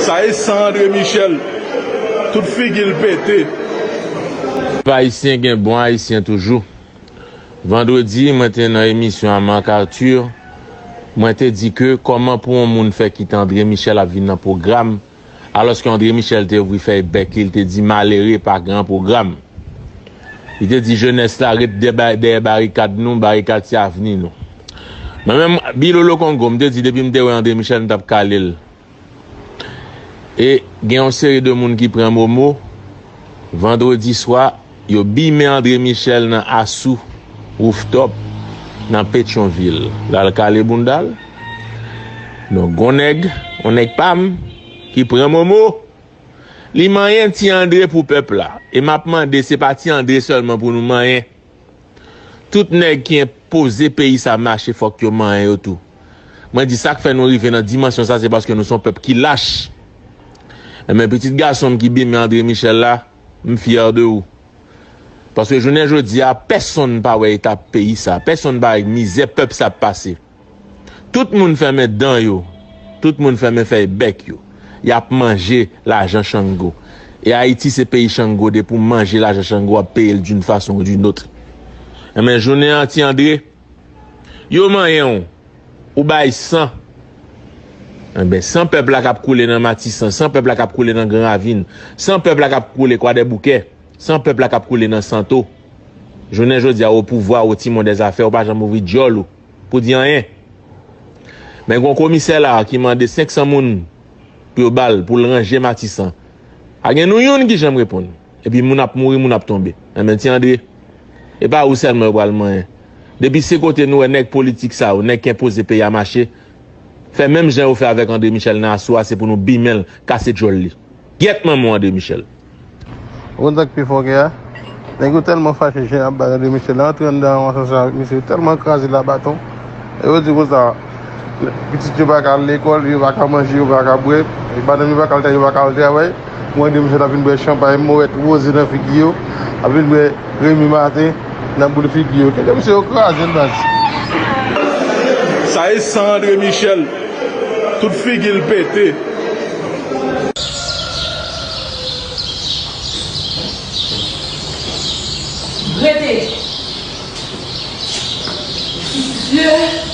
Sa e san andre michel tout figil pete. Pèp ayisyen gen bon ayisyen toujou. Vandredi mwen te nan emisyon a Marc Arthur mwen te di ke kòman pou on moun fè kite André Michel ap vin nan pwogram alòske André Michel te ouvri fèy bèk li li te di malere pa gran pwogram li te di jenès la ret dèyè barikad nou barikad se avni nou. Mwen menm Bilolo Kongo m te di depi m te wè André Michel m tap kale l e gen yon seri de moun ki pran momo vandredi swa yo bimen André Michel nan Asou Rooftop nan Petyonvil lal kale bounda l donk gon nèg yon nèg pa m ki pran momo li manyen ti André pou pèp la e map mande se pa ti André sèlman pou nou manyen. Tout nèg ki enpoze peyi sa mache fòk yo manyen yo tou. Mwen di sak fè nou rive nan dimansyon sa se paske nou son pèp ki lach. Enben pitit gasonm ki bimen Andre Michel la, m fyè de ou. Paske jounen jodi a pèsonn pa wè eta peyi sa, pèsonn pa wè mizè pèp sa ap pase. Tout moun fèmen dan yo, tout moun fèmen fèy bèk yo. Yap manje lajan chango. E Ayiti se peyi chango depi w manje lajan chango wap peye l d'une façon ou d'une autre. Enben jounen an ti André, yo manyen w, ou bay san. Enben san pèp la kap koule nan Matisan, san pèp la kap koule nan Gran Ravin, san pèp la kap koule Kwadèboukè, san pèp la kap koule nan Santo. Jounen jodi a ou o pouvwa, ou timon dè zafè, ou pa janm ouvri dyòl ou. pou di anyen. Men gon komisè la ki mande 500 moun pou yo bal pou l ranje matisan. Pa gen nou youn ki janm reponn. Epi moun ap mouri moun ap tonbe. Enben ti Andre, e pa ou sèlman yo pral manyen. Depi se kote nou wè nèg politik sa yo, nèg k enpoze peyi a mache, fè menm jan yo fè avèk Andre Michel nan aso a se pou nou bimen l, kase djòl li. Gyèt manman w André Michel. Ou konn sak pi fòkè a? Nèg yo tèlman fache jan yap bay André Michel la antre anndan yon asansè avèk misye yo tèlman kraze l a baton e yo di konsa pitit yo paka al lekòl yo paka manje yo paka bwè madanm yo paka al travay yo paka al travay pou André Michel ap vin bwè chanpay mòwèt woze nan figi yo ap vin bwè Remy Martin nan boul figi yo. Kite misye yo krazel baz. Sa e san andre michel tout figil pete. Rete Jezi.